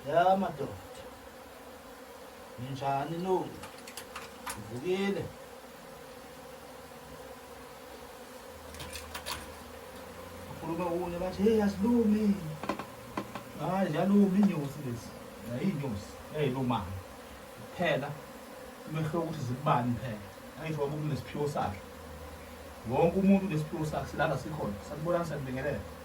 ya madoda ninjani no ngivukile ukhuluma kunye bathi hey asilumi hayi ziyaluma inyosi lezi nayinyosi eyilumana kuphela umehlo ukuthi zikubani phela ayisho waba unesiphiwo sakhe wonke umuntu unesiphiwo sakhe silala sikhona sakubonani sakubingelela